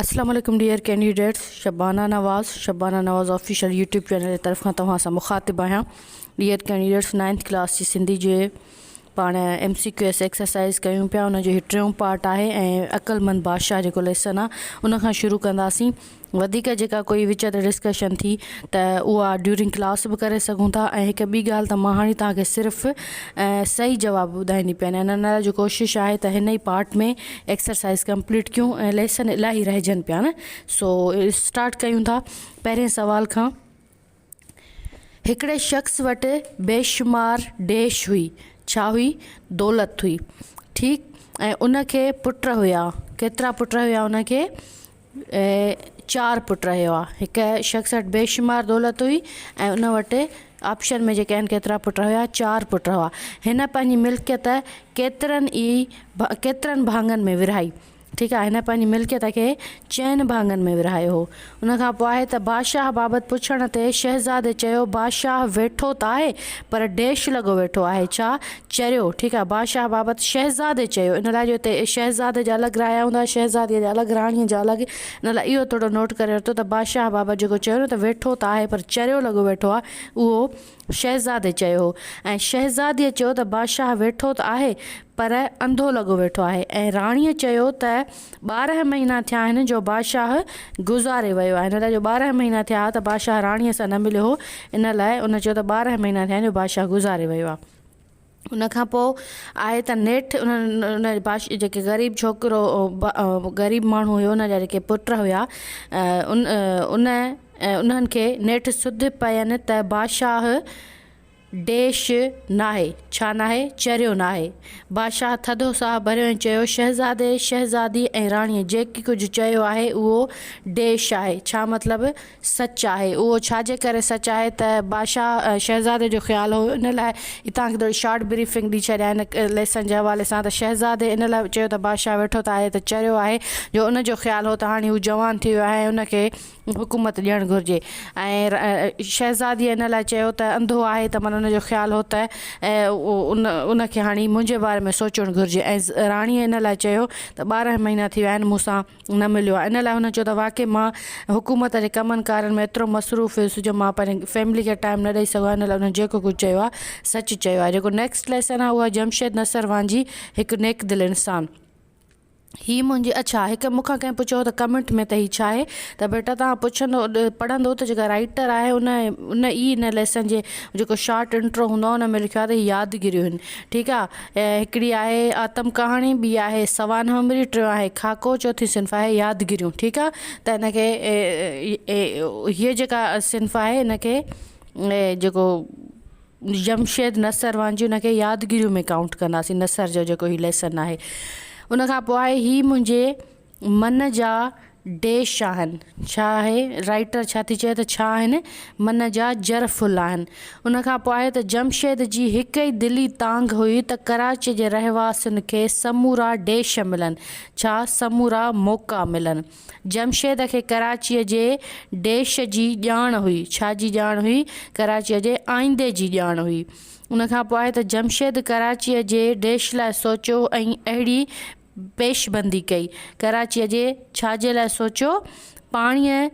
اسلام عليڪم dear candidates Shabana Nawaz Shabana Nawaz official YouTube channel جي طرفان توهان سان مخاطب آهيان ڊيئر ڪينڊيڊيٽس نائنٿ ڪلاس جي سنڌي جي پاڻ M C Q s exercise ڪيون پيا ان جو هي ٽيون پارٽ آهي ۽ عقلمند بادشاهه جيڪو ليسن آهي ان کان شروع ڪنداسين وڌيڪ جيڪا ڪوئي وچ تي ڊسڪشن ٿي ته اها ڊيورنگ ڪلاس به ڪري سگهون ٿا ۽ هڪ ٻي ڳالهه ته مان هاڻي تهان کي صرف صحيح جواب ٻڌائيندي پئي ان لاء جو ڪوشش آهي ته هن ئي پارٽ ۾ ايڪسرسائز ڪمپليٽ ڪيون ۽ ليسن الاهي رهجن پيا نه سو اسٽارٽ ڪيون ٿا پهرين سوال کان هڪڙي شخص وٽ بيشمار ڏيش هئي. ڇا هئي؟ دولت هئي. ٺيڪ ۽ ان کي پٽ هيا. ڪيترا پٽ هيا ان کي؟ چار پٽ هيا. هڪ شخص وٽ بيشمار دولت هئي ۽ ان وٽ آپشن ۾ جيڪي آهن ڪيترا پٽ هيا؟ چار پٽ هئا. هن پنهنجي ملڪيت ڪيترن ئي ڪيترن ڀاڱن ۾ ورهائي. ٺيڪ آهي هن پنهنجي ملڪيت کي چئن ڀاڱن ۾ ورهايو هو. ان کان پوء آهي ته بادشاهه بابت پڇڻ تي شهزادي چيو بادشاهه ويٺو ته آهي پر ڊيش لڳو ويٺو آهي ڇا؟ چريو ٺيڪ آهي بادشاهه بابت شهزادي چيو ان لاء جو هتي شهزادي جا الڳ رايا هوندا شهزادي جا الڳ راڻي جا الڳ ان لاء اهو توڙو نوٽ ڪري ورتو ته بادشاهه بابت جيڪو چيو نه ته ويٺو ته آهي پر چريو لڳو ويٺو آهي اهو شهزادي چيو هو ۽ شهزاديء چيو ته بادشاهه ويٺو ته آهي پر انڌو لڳو ويٺو آهي ۽ راڻيء چيو ته ٻارهن مهينا ٿيا آهن جو بادشاهه گذاري ويو آهي، ان لاء جو ٻارهن مهينا ٿيا ها ته بادشاهه راڻيء سان نه مليو هو، ان لاء ان چيو ته ٻارهن مهينا ٿيا آهن جو بادشاهه گذاري ويو آهي. ان کان پوء آهي ته نيٺ ان بادشاهه جيڪي غريب ڇوڪرو غريب ماڻهو هيو ان جا جيڪي پٽ هيا ان ان انهن کي نيٺ سڌ پئين ته بادشاهه ڊيش ناهي ڇا ناهي چريو ناهي بادشاهه ٿڌو ساهه ڀريو ۽ چيو شهزادي شهزادي ۽ راڻي جيڪي ڪجهه چيو آهي اهو ڊيش آهي ڇا مطلب سچ آهي. اهو ڇا جي ڪري سچ آهي ته بادشاهه شهزادي جو خيال هو ان لاء هي توهان کي ٿوري شارٽ بريفنگ ڏئي ڇڏيان هن ليسن جي حوالي سان ته شهزادي ان لاء چيو ته بادشاهه ويٺو ته آهي ته چريو آهي جو ان جو خيال هو ته هاڻي هو جوان ٿي ويو آهي ۽ ان کي حڪومت ڏيڻ گهرجي ۽ شهزادي ان لاء چيو ته انڌو آهي ته معنيٰ ان جو خيال هو ته ان ان کي هاڻي منهنجي باري ۾ سوچڻ گهرجي ۽ راڻي ان لاء چيو ته ٻارنهن مهينا ٿي ويا آهن مون سان نه مليو آهي ان لاء هن چيو ته واقعي مان حڪومت جي ڪمن ڪارن ۾ ايترو مصروف هيس جو مان پنهنجي فيملي کي ٽائيم نه ڏئي سگهيو آهيان ان لاء انهن جيڪو ڪجهه چيو آهي سچ چيو آهي جيڪو نيڪسٽ ليسن آهي اهو آهي جمشيد نصر وانجهي هڪ نيڪ دل انسان هي منهنجي اڇا هڪ مون کان ڪنهن پڇيو هو ته ڪمينٽ ۾ ته هي ڇا آهي ته بيٽا توهان پڇندو پڙهندو ته جيڪا رائيٽر آهي ان ان ئي ان ليسن جي جيڪو شارٽ انٽرو هوندو آهي ان ۾ لکيو آهي ته هي يادگيريون آهن ٺيڪ آهي هڪڙي آهي آتم ڪهاڻي ٻي آهي سوانح هنبري ٽيون آهي خاڪو چوٿين صنف آهي يادگريون ٺيڪ آ ته هن کي هي جيڪا صنف آهي هن کي جيڪو جمشيد نثر وانجهيون هن کي يادگريون ۾ ڪائونٽ ڪنداسين نثر جو جيڪو هي ليسن آهي ان کان پوء آهي هي منهنجي من جا ڊيش آهن، ڇا آهي رائٽر ڇا ٿي چئي ته ڇا آهن من جا جر ڦل آهن. ان کان پوء آهي ته جمشيد جي هڪ ئي دلي تانگهه هئي ته ڪراچيء جي رهواسين کي سمورا ڊيش ملن، ڇا سمورا موقعا ملن. جمشيد کي ڪراچيء جي ڊيش جي ڄاڻ هئي، ڇا جي ڄاڻ هئي، ڪراچيء جي آئيندي جي ڄاڻ هئي. ان کان پوء آهي ته جمشيد ڪراچيء جي ڊيش لاء سوچيو ۽ اهڙي پيش بندي ڪئي. ڪراچيء جي ڇا جي لاء سوچيو؟ پاڻيء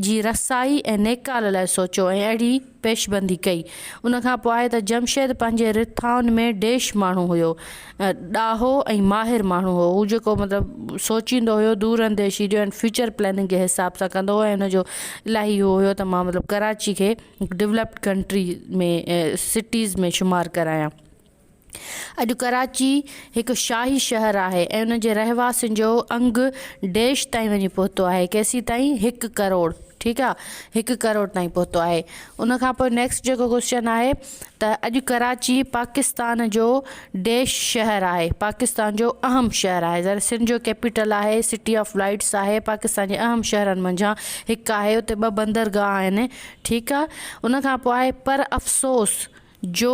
جي رسائي ۽ نيڪال لاء سوچيو ۽ اهڙي پيش بندي ڪئي. ان کان پوء ته جمشيد پنهنجي رٿائن ۾ ڊيش ماڻهو هيو. ڏاهو ۽ ماهر ماڻهو هو. هو جيڪو مطلب سوچيندو هيو دور انديشي جو ۽ فيوچر پلاننگ جي حساب سان ڪندو هو ۽ ان جو الاهي اهو هيو ته مان مطلب ڪراچي کي هڪ ڊولپڊ ڪنٽري ۾ سٽيز ۾ شمار ڪرايان. اڄ ڪراچي هڪ شاهي شهر آهي ۽ ان جي رهواسين جو انگ ڊيش تائين وڃي پهتو آهي ڪيسين تائين هڪ ڪروڙ ٺيڪ آ هڪ ڪروڙ تائين پهتو آهي ان کان پوء نيڪسٽ جيڪو ڪوشچن آهي ته اڄ ڪراچي پاڪستان جو ڊيش شهر آهي پاڪستان جو اهم شهر آهي ظاهر سنڌ جو ڪيپيٽل آهي سٽي آف لائيٽس آهي پاڪستان جي اهم شهرن منجهان هڪ آهي اتي ٻه بندرگاهه آهن ٺيڪ آ ان کان پوء آهي پر افسوس جو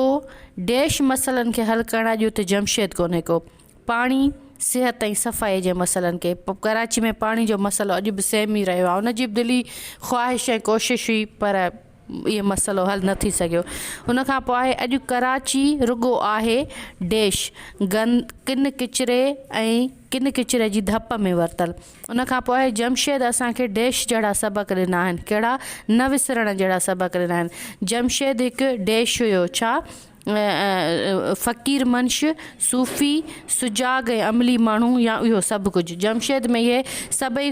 ڊيش مسئلن کي حل ڪرڻ اڄ اتي جمشيد ڪونهي ڪو. پاڻي، صحت ۽ صفائي جي مسئلن کي پ ڪراچي ۾ پاڻي جو مسئلو اڄ به سيم ئي رهيو آهي ان جي به دلي خواهش ۽ ڪوشش هئي پر اهي مسئلو حل نه ٿي سگهيو ان کان پوء آهي اڄ ڪراچي رڳو آهي ڊيش گند ڪن ڪچري ۽ ڪن ڪچري جي ڌپ ۾ ورتل ان کان پوء جمشيد اسان کي ڊيش جهڙا سبق ڏنا آهن. ڪهڙا؟ نه وسرڻ جهڙا سبق ڏنا آهن. جمشيد هڪ ڊيش هيو. ڇا؟ فقير منش، صوفي، سجاڳ ۽ عملي ماڻهو يا اهو سڀ ڪجهه. جمشيد ۾ اهي سڀئي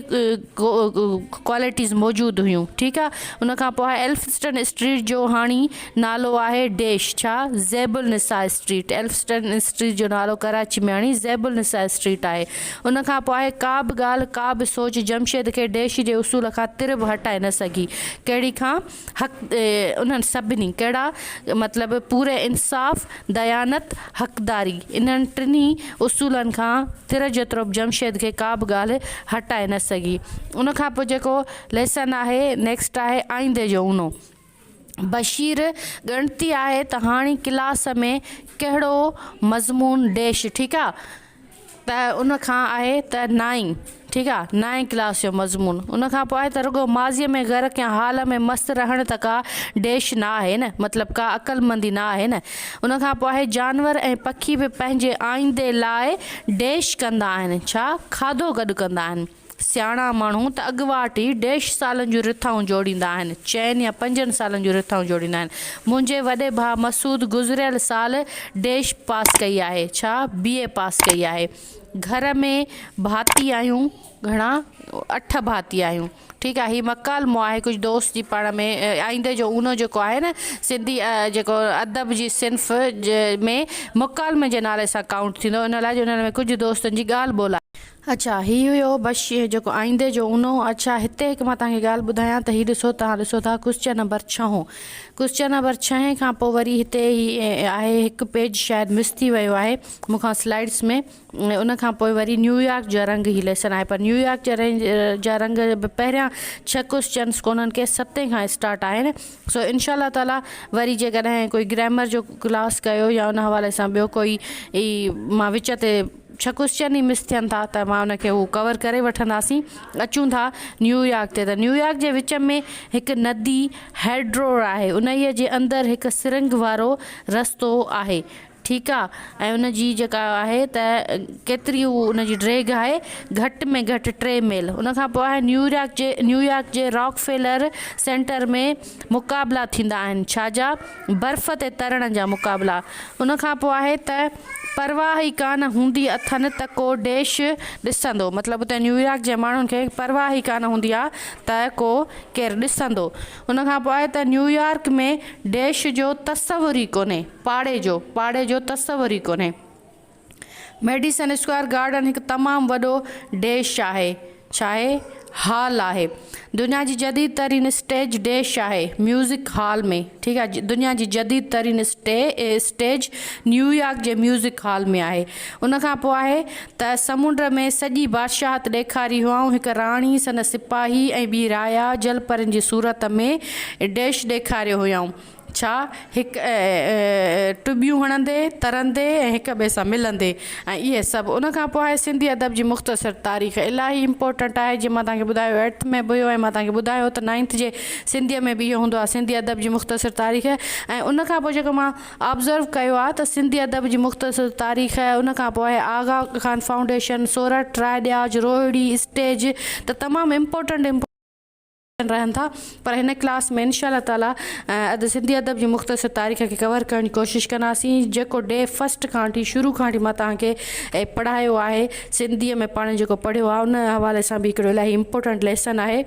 ڪوالٽيز موجود هيون. ٺيڪ آ. ان کان پوء ايلفسٽن اسٽريٽ جو هاڻي نالو آهي ڊيش. ڇا؟ Zebunnisa street. Elphinstone street جو نالو ڪراچي ۾ هاڻي زيب النساء اسٽريٽ آهي. ان کان پوء ڪا به ڳالهه، ڪا به سوچ جمشيد کي ڊيش جي اصول کان تر به هٽائي نه سگهي. ڪهڙي کان حق انهن سڀني، ڪهڙا مطلب پوري انصاف، ديانت، حقداري، انهن ٽنهي اصولن کان تر جيترو به جمشيد کي ڪا به ڳالهه هٽائي نه سگهي. ان کان پوء جيڪو ليسن آهي، نيڪسٽ آهي آئيندي جو اونو. بشير ڳڻتي آهي ته هاڻي ڪلاس ۾ ڪهڙو مضمون ڊيش ٺيڪ آ ته ان کان آهي ته نائين ٺيڪ آ نائين ڪلاس جو مضمون ان کان پوء آهي ته رڳو ماضي ۾ غرق يا حال ۾ مست رهڻ ته ڪا ڊيش نه آهي نه مطلب ڪا عقلمندي نه آهي نه ان کان پوء آهي جانور ۽ پکي به پنهنجي آئيندي لاء ڊيش ڪندا آهن ڇا کاڌو گڏ ڪندا آهن سياڻا ماڻهو ته اڳواٽ ئي ڊيش سالن جون رٿائون جوڙيندا آهن، چئن يا پنجن سالن جون رٿائون جوڙيندا آهن. منهنجي وڏي ڀاء مسعود گذريل سال ڊيش پاس ڪئي آهي، ڇا بي اي پاس ڪئي آهي. گهر ۾ ڀاتي آهيون، گهڻا اٺ ڀاتي آهيون ٺيڪ آهي. هي مڪالمو آهي ڪجهه دوست جي پاڻ ۾ آئيندي جو اونو جيڪو آهي نه سنڌي جيڪو ادب جي صنف ۾ مڪالمي جي نالي سان ڪائونٽ ٿيندو ان لاء جو ان ۾ ڪجهه دوستن جي ڳالهه ٻولهه آهي. اڇا هي هيو بش جيڪو آئيندي جو اونهو اڇا هتي هڪ مان توهان کي ڳالهه ٻڌايان ته هي ڏسو توهان ڏسو ٿا ڪوسچن نمبر ڇهون ڪوسچن نمبر ڇهين کان پوء وري هتي هي آهي هڪ پيج شايد مس ٿي ويو آهي مون کان سلائيڊس ۾ ان کان پوء وري نيويارڪ جا رنگ هي ليسن آهي پر نيويارڪ جا رنگ جا رنگ به پهريان ڇهه ڪوسچنس ڪونهن ڪي ستين کان اسٽارٽ آهن سو انشاء الله تعالي وري جيڪڏهن ڪوئي گرامر جو ڪلاس ڪيو يا ان حوالي سان ٻيو ڪوئي اي مان وچ تي ڇهه ڪوسچن ئي مس ٿين ٿا ته مان ان کي هو ڪور ڪري وٺنداسين اچون ٿا نيويارڪ تي ته نيويارڪ جي وچ ۾ هڪ ندي هيڊرور آهي انهيء جي اندر هڪ سرنگ وارو رستو آهي ٺيڪ آ ۽ ان جي جيڪا آهي ته ڪيتري هو ان جي ڊريگ آهي گهٽ ۾ گهٽ ٽي ميل ان کان پوء آهي نيويارڪ جي نيويارڪ جي راڪ فيلر سينٽر ۾ مقابلا ٿيندا آهن ڇا جا برف تي ترڻ جا مقابلا ان کان پوء آهي ته پرواهه ئي ڪانه هوندي اٿن ته ڪو ڊيش ڏسندو مطلب اتي نيويارڪ جي ماڻهن کي پرواهه ئي ڪانه هوندي آ ته ڪو ڪير ڏسندو ان کان پوء آهي ته نيويارڪ ۾ ڊيش جو تصور ئي ڪونهي پاڙي جو پاڙي جو تصور ئي ڪونهي. ميڊيسن اسڪوائر گارڊن هڪ تمام وڏو ڊيش آهي، ڇاهي؟ هال آهي. دنيا جي جديد ترين اسٽيج ڊيش آهي، ميوزڪ هال ۾، ٺيڪ آهي، دنيا جي جديد ترين اسٽيج نيويارڪ جي ميوزڪ هال ۾ آهي. ان کان پوء آهي ته سمنڊ ۾ سڄي بادشاهت ڏيکاري هئائون، هڪ راڻي، سندس سپاهي ۽ ٻي رايا جلپرين جي صورت ۾ ڊيش ڏيکاريو هيائون. ڇا هڪ ٽٻيون هڻندي، ترندي ۽ هڪ ٻئي سان ملندي ۽ اهي سڀ. ان کان پوء آهي سنڌي ادب جي مختصر تاريخ. الاهي امپورٽنٽ آهي جيئن مان توهان کي ٻڌايو ايٽٿ ۾ به هيو ۽ مان توهان کي ٻڌايو ته نائنٿ جي سنڌيء ۾ به اهو هوندو آهي سنڌي ادب جي مختصر تاريخ ۽ ان کان پوء جيڪو مان آبزرو ڪيو آهي ته سنڌي ادب جي مختصر تاريخ ان کان پوء آهي آغا خان فائونڊيشن، سورٺ، راء ڏياج، روهڙي، اسٽيج ته تمام امپورٽنٽ. ڪيئن رهن ٿا پر هن ڪلاس ۾ انشاء الله تعالي اڌ سنڌي ادب جي مختصر تاريخ کي ڪور ڪرڻ جي ڪوشش ڪنداسين جيڪو ڊي فسٽ کان وٺي شروع کان وٺي مان توهان کي پڙهايو آهي سنڌي ۾ پاڻ جيڪو پڙهيو آهي ان حوالي سان به هڪڙو الاهي امپورٽنٽ ليسن آهي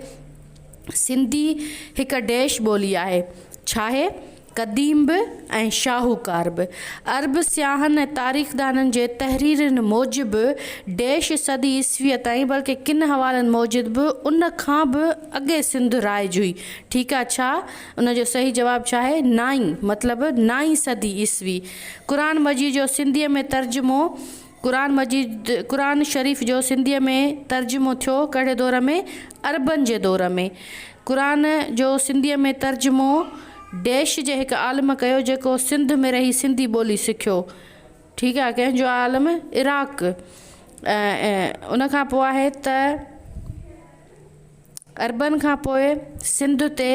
سنڌي هڪ ڊيش ٻولي آهي ڇاهي قديم به ۽ شاهوڪار به. عرب سياحن ۽ تاريخدانن جي تحريرن موجب ڊيش صدي عيسويء تائين بلڪه ڪن حوالن موجد به ان کان به اڳي سنڌ رائج هئي. ٺيڪ آ ڇا؟ ان جو صحيح جواب ڇا آهي؟ نائين مطلب نائين صدي عيسوي. قرآن مجيد جو سنڌيء ۾ ترجمو. قرآن مجيد قرآن شريف جو سنڌيء ۾ ترجمو ٿيو ڪهڙي دور ۾، عربن جي دور ۾. قرآن جو سنڌيء ۾ ترجمو ڊيش جي هڪ عالم ڪيو جيڪو سنڌ ۾ رهي سنڌي ٻولي سکيو ٺيڪ آهي ڪنهن جو عالم عراق ان کان پوء آهي ته عربن کان پوء سنڌ تي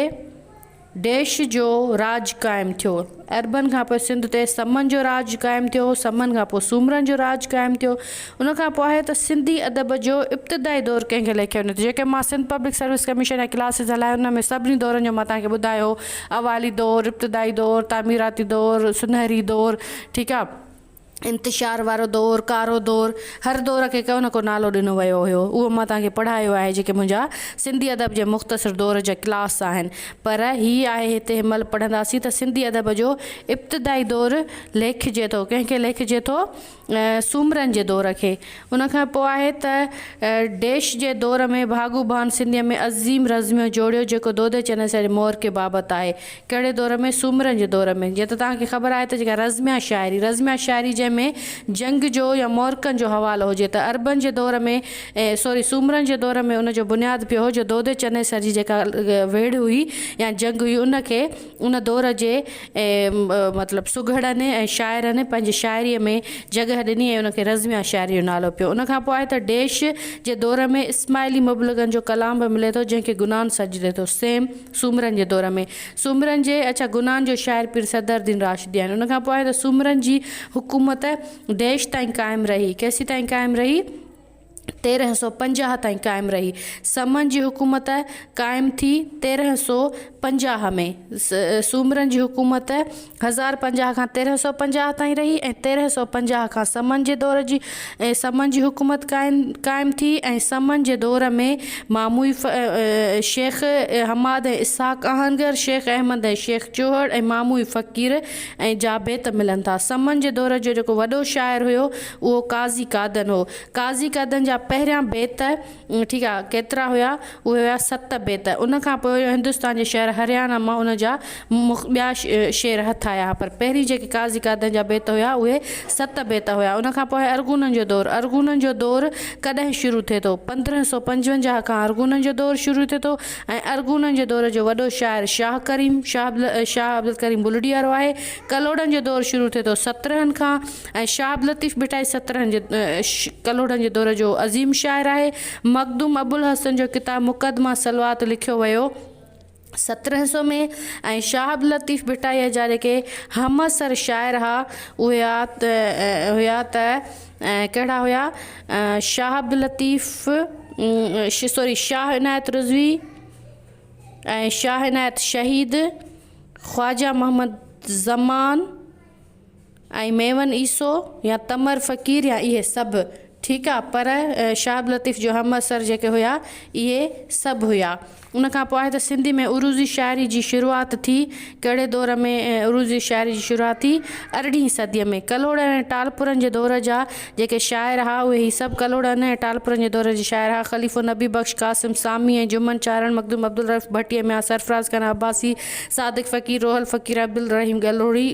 ديش جو راڄ قائم ٿيو. عربن کان پوء سنڌ تي سمن جو راڄ قائم ٿيو. سمن کان پوء سومرن جو راڄ قائم ٿيو. ان کان پوء آهي ته سنڌي ادب جو ابتدائي دور ڪنهن کي ليکيو وڃي ٿو. جيڪي مان سنڌ پبلڪ سروس ڪميشن جا ڪلاسز هلايو ان ۾ سڀني دورن جو مان توهان کي ٻڌايو اوائلي دور، ابتدائي دور، تعميراتي دور، سونهري دور ٺيڪ آ. انتشار وارو دور، ڪارو دور، هر دور کي ڪو نه ڪو نالو ڏنو ويو هيو. اهو مان توهان کي پڙهايو آهي جيڪي منهنجا سنڌي ادب جي مختصر دور جا ڪلاس آهن. پر هي آهي هتي هن مهل پڙهنداسين ته سنڌي ادب جو ابتدائي دور ليکجي ٿو ڪنهن کي ليکجي ٿو سومرن جي دور کي ان کان پوء آهي ته ڊيش جي دور ۾ ڀاڳو ڀان سنڌيء ۾ عظيم رزميو جوڙيو جيڪو دودي چنيسر جي مورڪي بابت آهي ڪهڙي دور ۾؟ سومرن جي دور ۾. جيئن ته توهان کي خبر آهي ته جيڪا رزميا شاعري، رزميا شاعري جنهن ۾ جنگ جو يا معرڪن جو حوالو هجي ته عربن جي دور ۾ سوري سومرن جي دور ۾ ان جو بنياد پيو هو جو دودي چنيسر جي جيڪا ويڙهه هئي يا جنگ هئي ان کي ان دور جي مطلب سگهڙن ۽ شاعرن پنهنجي شاعري ۾ جڳهه ڏني ۽ ان کي رزميا شاعري جو نالو پيو. ان کان پوء آهي ته ڊيش جي دور ۾ اسماعيلي مبلغن جو ڪلام به ملي ٿو جنهن کي گنان سڏجي ٿو. سيم. سومرن جي دور ۾، سومرن جي اچا گناهن جو شاعر پير صدر الدين راشدي آهن. ان کان پوء ته سومرن جي حڪومت ديش تائين قائم رهي. ڪيسين تائين قائم رهي؟ تيرنهن سؤ پنجاهه تائين قائم رهي. سمن جي حڪومت قائم ٿي تيرنهن سؤ پنجاهه ۾. سومرن جي حڪومت هزار پنجاهه کان تيرهن سؤ پنجاهه تائين رهي ۽ تيرهن سؤ پنجاهه کان سمن جي دور جي سمن جي حڪومت قائم ٿي ۽ سمن جي دور ۾ ماموئي شيخ حماد ۽ اسحاق آهنگر شيخ احمد ۽ شيخ چوهڙ ۽ ماموئي فقير ۽ جابيت ملن ٿا سمن جي دور جو جيڪو وڏو شاعر هيو اهو قاضي قادن هو قاضي قادن جا پهريان بيت ٺيڪ آ، ڪيترا هيا؟ اهي هيا ست بيت. ان کان پوء هندستان جي شهر هريانا مان ان جا ٻيا شعر هٿ آيا ها، پر پهرين جيڪي قاضي قادن جا بيت هيا، اهي ست بيت هيا. ان کان پوء ارغونن جو دور. ارغونن جو دور ڪڏهن شروع ٿئي ٿو؟ پندرهن سؤ پنجونجاهه کان ارغونن جو دور شروع ٿئي ٿو ۽ ارغونن جي دور جو وڏو شاعر شاهه ڪريم، شاهه عبدالڪريم بلڙي وارو، آهي. ڪلهوڙن جو دور شروع ٿئي ٿو سترهن کان. ۽ شاهه عبداللطيف ڀٽائي سترهن جي ڪلهوڙن جي دور جو عظيم شاعر آهي. مخدوم ابوالحسن جو ڪتاب مقدمه صلوات لکيو ويو سترهن سو ۾ ۽ شاهه عبداللطيف ڀٽائيء جا جيڪي همعصر شاعر ها اهي هيا ته ڪهڙا هيا شاهه عبداللطيف سوري شاهه عنايت رضوي ۽ شاهه عنايت شهيد خواجه محمد زمان ۽ ميمن عيسو يا تمر فقير يا اهي سڀ ٺيڪ آ پر شاهه عبداللطيف جو همعصر جيڪي هيا اهي سڀ هيا ان کان پوء ته سنڌي ۾ عروضي شاعري جي شروعات ٿي ڪهڙي دور ۾ عروضي شاعري جي شروعات ٿي ارڙهين صدي ۾ ڪلهوڙن ۽ ٽالپرن جي دور جا جيڪي شاعر ھئا اھي ھي سڀ ڪلھوڙن ۽ ٽالپرن جي دور جي شاعر ھئا خليفو نبي بخش قاسم سامي ۽ جمن چارڻ مخدوم عبدالرئوف ڀٽي ميان سرفراز خان عباسي صادق فقير روحل فقير عبدالرحيم ڳلھوڙي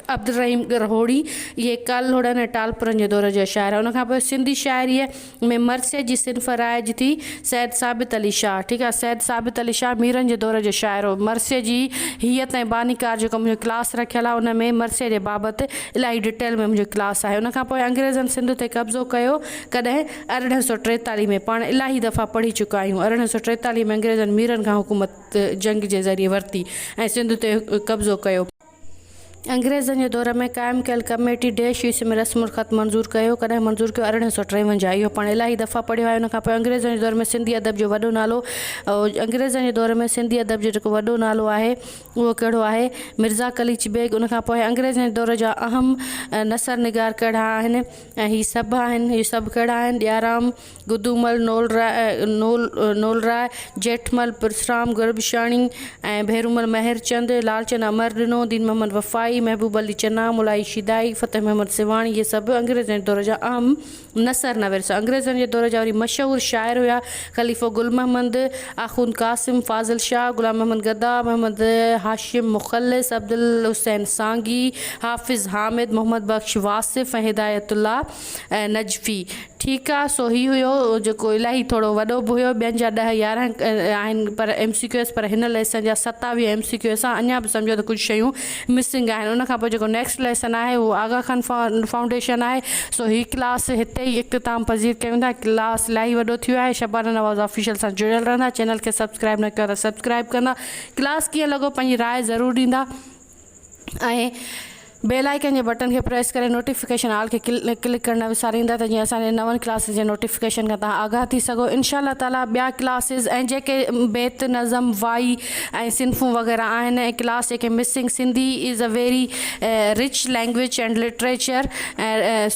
عبدالرحيم ڳرھوڙي اھي ڪلھوڙن ۽ ٽالپرن جي دور جا شاعر ھئا ان کان پوء سنڌي شاعريء ۾ مرثيه جي صنف رائج ٿي. سيد ثابت علي شاهه ٺيڪ آهي سيد ثابت علي شاهه ميرن جي دور جو شاعر هو. مرثيه جي هيئت ۽ باني ڪار جيڪو منهنجو ڪلاس رکيل آهي ان ۾ مرثيه جي بابت الاهي ڊٽيل ۾ منهنجو ڪلاس آهي. ان کان پوء انگريزن سنڌ تي قبضو ڪيو ڪڏهن ارڙهن سؤ ٽيتاليهه ۾ پاڻ الاهي دفعا پڙهي چڪا آهيون ارڙهن سؤ ٽيتاليهه ۾ انگريزن ميرن کان حڪومت جنگ جي ذريعي ورتي ۽ سنڌ تي قبضو ڪيو. انگريزن جي دور ۾ قائم ڪيل ڪميٽي ڊيش ايس ۾ رسم الخط منظور ڪيو، ڪڏهن منظور ڪيو ارڙهن سؤ ٽيونجاهه اهو پاڻ الاهي دفعا پڙهيو آهي ان کان پوء انگريزن جي دور ۾ سنڌي ادب جو وڏو نالو انگريزن جي دور ۾ سنڌي ادب جو جيڪو وڏو نالو آهي اهو ڪهڙو آهي مرزا قليچ بيگ ان کان پوء انگريزن جي دور جا اهم نثر نگار ڪهڙا آهن ۽ هي سڀ آهن هي سڀ ڪهڙا آهن ڏيارام گدومل نولراء، جيٺمل پرسرام گربشاڻي ۽ ڀيرومل مهرچند، لالچند امر ڏنو، دين محمد وفائي، محبوب علي چنا، مولائي شيدائي، فتح محمد سيوهاڻي اهي سڀ انگريزن جي دور جا اهم نثر نويس هئا. انگريزن جي دور جا وري مشهور شاعر هيا خليفو گل محمد، آخوند قاسم، فاضل شاهه، غلام محمد گدا، محمد هاشم مخلص، عبدالحسين سانگي، حافظ حامد، محمد بخش واصف ۽ هدايت الله. ۽ نجفي ٺيڪ آ سو هي هيو جيڪو الاهي ٿورو وڏو به هيو ٻين جا ڏهه يارهن آهن پر ايم سي ڪيو ايس پر هن ليسن جا ستاويهه ايم سي ڪيو ايس آ اڃا به سمجهو ته ڪجهه شيون مسنگ آهن ان کان پوء جيڪو نيڪسٽ ليسن آهي اهو آغا خان فائونڊيشن آهي سو هي ڪلاس هتي ئي اختتام پذير ڪيون ٿا ڪلاس الاهي وڏو ٿيو آهي شبانه نواز آفيشل سان جڙيل رهندا چينل کي سبسڪرائب نه ڪيو آهي ته سبسڪرائب ڪندا ڪلاس ڪيئن لڳو پنهنجي راء ضرور ڏيندا. ۽ بيل آئيڪن جي بٽن کي پريس ڪري نوٽيفڪيشن آل کي ڪلڪ ڪرڻ نه وساريندا ته جيئن اسان جي نون ڪلاسز جي نوٽيفڪيشن کان توهان آگاهه ٿي سگهو انشاء الله تعالي ٻيا ڪلاسز ۽ جيڪي بيت نظم وائي ۽ صنفون وغيره آهن ۽ ڪلاس جيڪي missing Sindhi is a very rich language and literature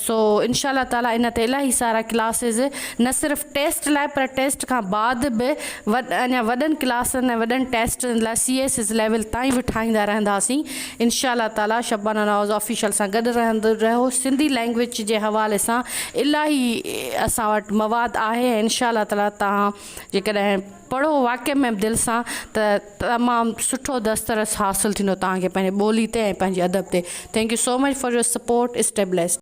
so انشاء الله تعالي ان تي الاهي سارا ڪلاسز نه صرف ٽيسٽ لاء پر ٽيسٽ کان بعد به اڃا وڏن ڪلاسن ۽ وڏن ٽيسٽن لاء سي ايس ايس ليول تائين به ٺاهيندا رهنداسين انشاء الله تعالي شبانه نواز آفيشل سان گڏ رهندو رهو سنڌي لينگويج جي حوالي سان الاهي اسان وٽ مواد آهي ۽ انشاء الله تعالي تهان جيڪڏهن پڙهو واقعي ۾ دل سان ته تمام سٺو دسترس حاصل ٿيندو تهان کي پنهنجي ٻولي تي ۽ پنهنجي ادب تي thank you so much for your support stay blessed.